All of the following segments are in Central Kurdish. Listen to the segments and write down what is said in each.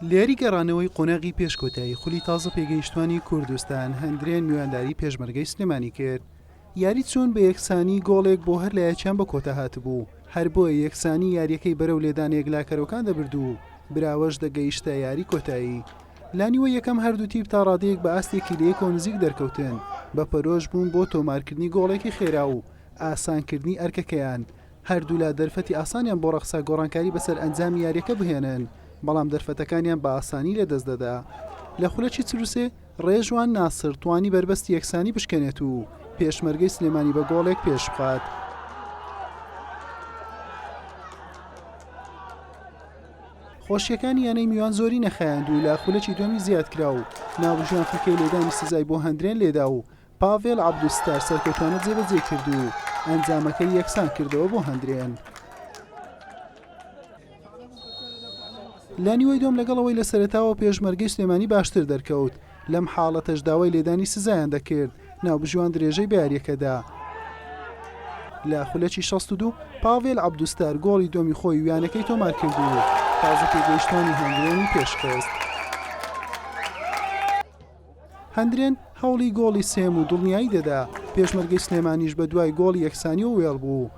لێری گەڕانەوەی قۆناغی پێش کۆتایی خولی تازە پێگەیشتوانی کوردستان هەندرێن میوانداری پێشمەرگەی سلێمانی کرد یاری چوون بە یەکسانی گۆڵێک بۆ هەر لایەکیان بە کۆتا هاتبوو هەر بۆیە یەکسانی یاریەکەی بەرەو لێدانێک لاکەرۆکان دەبرد و براوەش دەگەیشتە یاری کۆتایی لانیوە یەکەم هەردوو تیپ تا ڕادەیەک بە ئاستێکی لەیەکەوە نزیک دەرکەوتن بە پەرۆش بوون بۆ تۆمارکردنی گۆڵێکی خێرا و ئاسانکردنی ئەرکەکەیان هەردوولا دەرفەتی ئاسانیان بۆ ڕەخسا گۆڕانکاری بەسەر ئەنجامی یارییەکە بهێنن، بەڵام دەرفەتەکانیان بە ئاسانی لەدەست دەدا. لە خولەکی چل و سێ، ڕێژوان ناسر توانی بەربەستی یەکسانی بشکێنێت و پێشمەرگەی سلێمانی بە گۆڵێک پێشبخات. خۆشییەکانی یانەی میوان زۆری نەخایاند و لە خولەکی دووەمی زیادکرا و ناوبژیوان فیکەی لێدانی سزای بۆ هەندرێن لێدا و پاڤێل عەبدولستار سەرکەوتانە جێبەجێ کرد و ئەنجامەکەی یەکسان کردەوە بۆ هەندرێن. لە نیوەی دوم لەگەڵ ئەوەی لە سەرەتاوە پێشمەرگەی سلێمانی باشتر دەرکەوت لەم حاڵەتەش داوای لێدانی سزایان دەکرد ناوبژیوان درێژەی بە یاریەکەدا لە خولەکی 62 پاڤێل عەبدوستار گۆڵی دومی خۆی ویانەکەی تۆمار کردی و تازە پێگەیشتانی هەنگرێنی پێشکەوت. هەندرێن هەوڵی گۆڵی سێم و دڵنیایی دەدا، پێشمەرگەی سلێمانیش بە دوای گۆڵی یەکسانیەوە وێڵ بوو.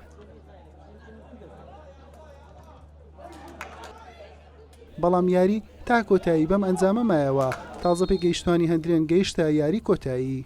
بەڵام یاری تا کۆتایی بەم ئەنجامە مایەوە، تازە پێگەیشتوانی هەندرێن گەیشتە یاری کۆتایی.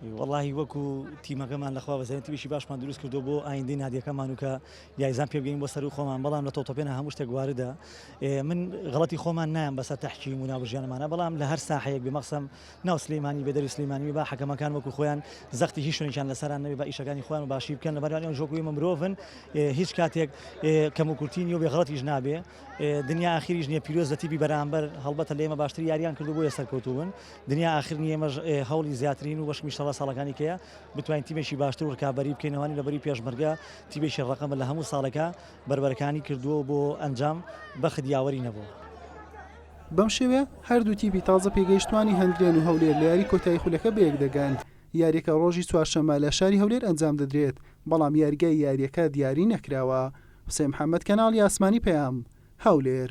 وەڵاهی وەکو تیمەکەمان لەخوا بەزانین تیمێکی باشمان دروست کردو بۆ ئایندەی نادیەکەمان و کە یایزان پێ بگەین بۆ سەروو خۆمان بەڵام لە تۆتۆپێنە هەموو شتێک واردە من غڵەتی خۆمان نایەم بەسەر تحکیم و ناوبژیانمانە بەڵام لە هەر ساحەیەک بێ مەقسەم ناو سلێمانی بێ دەری سلێمانی با حەکەمەکان وەکو خۆیان زەختی هیچ شوێنێکیان لەسەران نەبێ بە ئیشەکانی خۆیان و باشی بکەن لەبەر ئەوان ژۆک ئێمە مرۆڤن هیچ کاتێک کەم و کورتی نیە و بێ غڵەتیش نابێ دنیا ئاخیریش نیە پیرۆز لە تیبی بەرامبەر هەڵبەتە لێمە باشتر یاریان کردو بۆیە سەرکەوتوون دنیا ئاخر نیە ئێمەش هەوڵی زیاترین و بەشکم ئیشەڵا ساڵەکانی کەیە بتوانین تیمێکی باشتر و رکابەری بکەین ئەوانی لە بەری پێشمەرگە تیمێکی ڕقمە لە هەموو ساڵەکە بەربەرەکانی کردووە بۆ ئەنجام بەخت یاوەری نەبوو. بەم شێوەیە هەردوو تیپی تازە پێگەیشتووانی هەندرێن و هەولێر لە یاری کۆتایی خولەکە بەیەک دەگەن، یاریەکە ڕۆژی چوارشەممە لە شاری هەولێر ئەنجام دەدرێت، بەڵام یاریگای یاریەکە دیاری نەکراوە. حوسێن محەمەد، کەناڵی ئاسمانی پەیام، هەولێر.